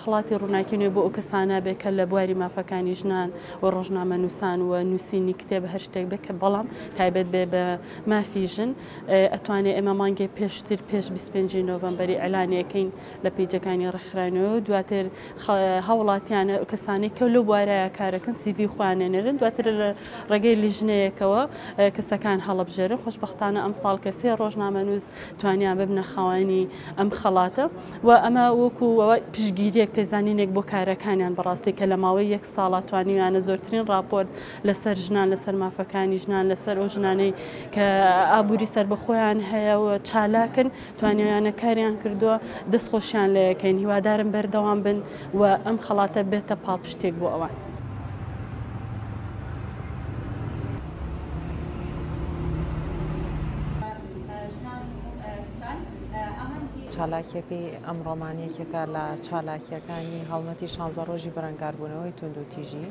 خەڵاتی ڕووناکی نوێ بۆ ئەو کەسانە بێ کە لە بواری مافەکانی ژنان و ڕۆژنامەنووسان و نووسینی کتێب هەر شتێک بێ کە بەڵام تایبەت بێ بە مافی ژن ئەتوانێت ئێمە مانگێ پێشتر پێش 25 نۆڤەمبەری ئەلانەکەین لە پیجەکانی ڕێکخراینەوە و دواتر هاوڵاتیانە کەسانی کە لەو بوارایە کارەکەن سیڤی خوانێنەرن دواتر لە ڕێگەی لیژنەیەکەوە کەسەکان هەڵبژێرن خۆشببختانە ئەم ساڵ کەسێ ڕۆژنامەنووس توانیان ببنە خاوەنی ئەم خەڵاتە و ئەمە وەکو پشگیریەک پێزانینێک بۆ کارەکانیان بەڕاستی کە لە ماوەی یەک ساڵات توانیویانە زۆرترین راپۆرت لەسەر ژنان لەسەر مافەکانی ژنان لەسەر ئەو ژنانەی کە ئابووری سربەخۆیان هەیە و چالاکن توانیویانە کاریان کردووە دەستخۆشیان لە یەکەین هیوادارم بەردەوام بن و ئەم خەڵاتە بێتە پاڵپشتێک بۆ ئەوان. چالاکییەکەی ئەمڕۆمان یەکێکە لە چالاکییەکانی هەڵمەتی شانزە ڕۆژی بەرەنگاربوونەوەی توند و تیژی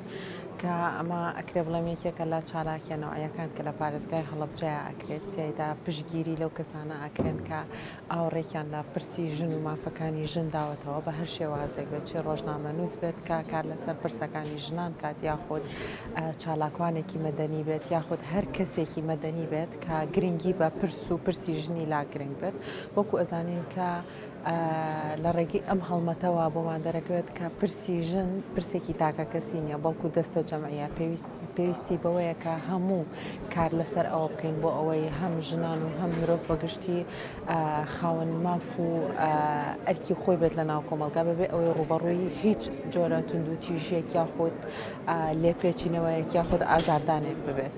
کە ئەمە ئەکرێ بڵێم یەکێکە لە چالاکیانەوەیەکان کە لە پارێزگای هەڵبجایا ئەکرێت تێدا پشگیری لەو کەسانە ئەکرێن کە ئاوڕێکیان لە پرسی ژن و مافەکانی ژن داوەتەوە بە هەر شێوازێک بێت چی ڕۆژنامە نووس بێت کە کار لەسەر پرسەکانی ژنان کات یاخود چالاکوانێکی مەدەنی بێت یاخود هەر کەسێکی مەدەنی بێت کە گرنگی بە پرس و پرسی ژنی لا گرنگ بێت وەکو ئەزانین کە لە ڕێگەی ئەم هەڵمەتەوە بۆمان دەرەکەوێت کە پرسی ژن پرسێکی تاکە کەسی نییە بەڵکو دەستە جەمعە پێویست پێویستی بەوەیە کە هەموو کار لەسەر ئەوە بکەین بۆ ئەوەی هەم ژنان و هەم مرۆڤ بەگشتی خاون ماف و ئەرکی خۆی بێت لە ناو کۆمەلگا بەبێ ئەوەی ڕوبەڕووی هیچ جۆرە تونند و تیژیەک یاخود لێپێچینەوەیەک یاخود ئازاردانێک ببێت.